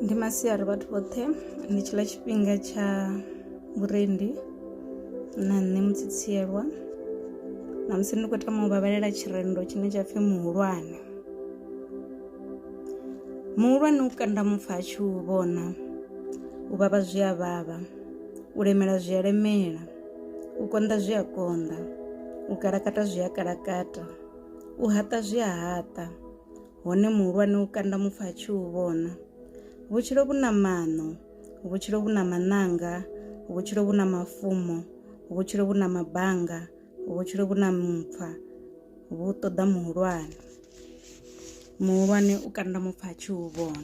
ndi masiari vhathu vhoṱhe ndi tshiḽa tshifhinga tsha vhurendi na nṋe mutsitsielwa na musi ndi khou tama u vhavhalela tshirendo tshine tsha pfhi muhulwane muhulwane u kanda mupfa a tshi u vhona u vhavha zwi a vhavha u lemela zwi a lemela u konḓa zwi a konḓa u kalakata zwi a kalakata U haṱa zwi a haṱa, hone muhulwane u kanda mupfa a tshi u vhona. Vhutshilo vhu na maṋo, vhutshilo vhu na maṋanga, vhutshilo vhu na mafumo, vhutshilo vhu na mabanga, vhutshilo vhu na mupfa, vhu ṱoḓa muhulwane. Muhulwane u kanda mupfa a tshi u vhona.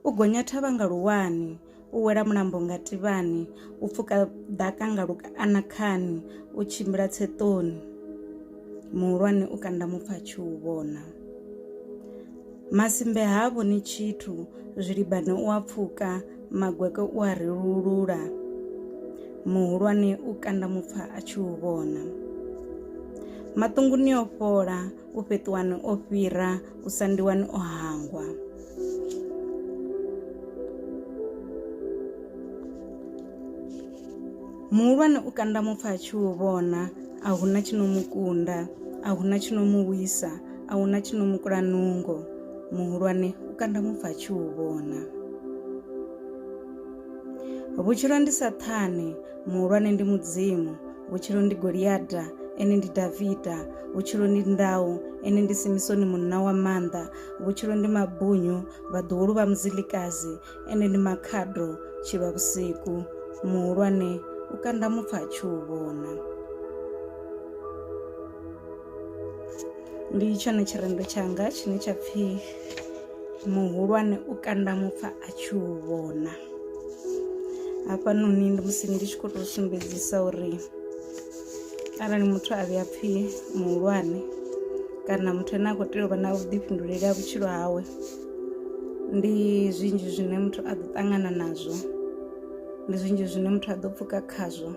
U gonya thavha nga luwani, u wela mulambo nga tivhani, u pfuka ḓaka nga luanakhani, u tshimbila tseṱoni, muhulwane u kanda mupfha a tshi u vhona. Masimbe ha vhoni tshithu, zwilibane u a pfuka, magweke u a relulula, muhulwane u kanda mupfha a tshi u vhona. Maṱunguni o fhola. u fheṱuwani o fhira u sandiwani o hangwa muhulwane u kanda mupfa a tshi u vhona a huna tshi no mu kunda a huna tshi no mu wisa a huna tshi no mu kula nungo muhulwane u kanda mupfa a tshi u vhona vhutshilo ndi sa ṱhane muhulwane ndi mudzimu vhutshilo ndi goliata ene ndi davida vhutshilo ndi ndau ene ndi simisoni munna wa maanḓa vhutshilo ndi mabunyu vhaḓuhulu vha muzilikazi ene ndi makhado tshilwa vhusiku muhulwane u kanda mupfa a tshi u vhona ndi tshone tshirendo tshanga tshine tsha pfhi muhulwane u kanda mupfa a tshi u vhona hafhanoni ndi musi ndi tshi khou tou sumbedzisa uri arali muthu a vhuya pfhi muhulwane kana muthu ane a khou tea u vha na vhuḓifhinduleli ha vhutshilo hawe ndi zwinzhi zwine muthu a ḓo ṱangana nazwo ndi zwinzhi zwine muthu a ḓo pfuka khazwo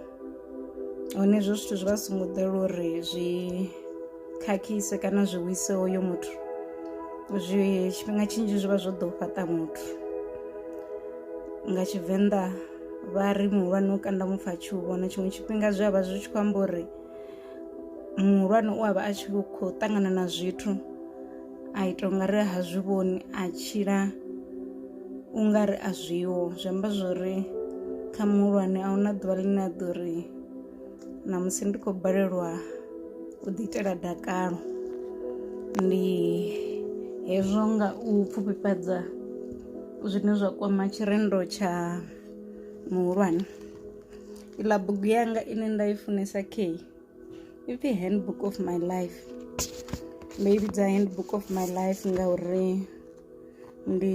hone hezwo zwithu zwi vha songo ḓela uri zwi khakhise kana zwi wise hoyo muthu zwi tshifhinga tshinzhi zwi vha zwo ḓo fhaṱa muthu nga tshivenḓa vha ri muhulwane u kanda mupfa tshi u vhona tshiṅwe tshifhinga zwi a vha zwi tshi khou amba uri muhulwane u a vha a tshi khou ṱangana na zwithu a ita u nga ri ha zwi vhoni a tshila u nga ri a zwiho zwi amba zwori kha muhulwane a huna ḓuvha ḽine a ḓo ri ṋamusi ndi khou balelwa u ḓiitela dakalo ndi hezwo nga u pfufhifhadza zwine zwa kwama tshirendo tsha muhulwane iḽa bugu yanga ine nda i funesa key ipfhi handbook of my life ndo i vhidza handbook of my life ngauri ndi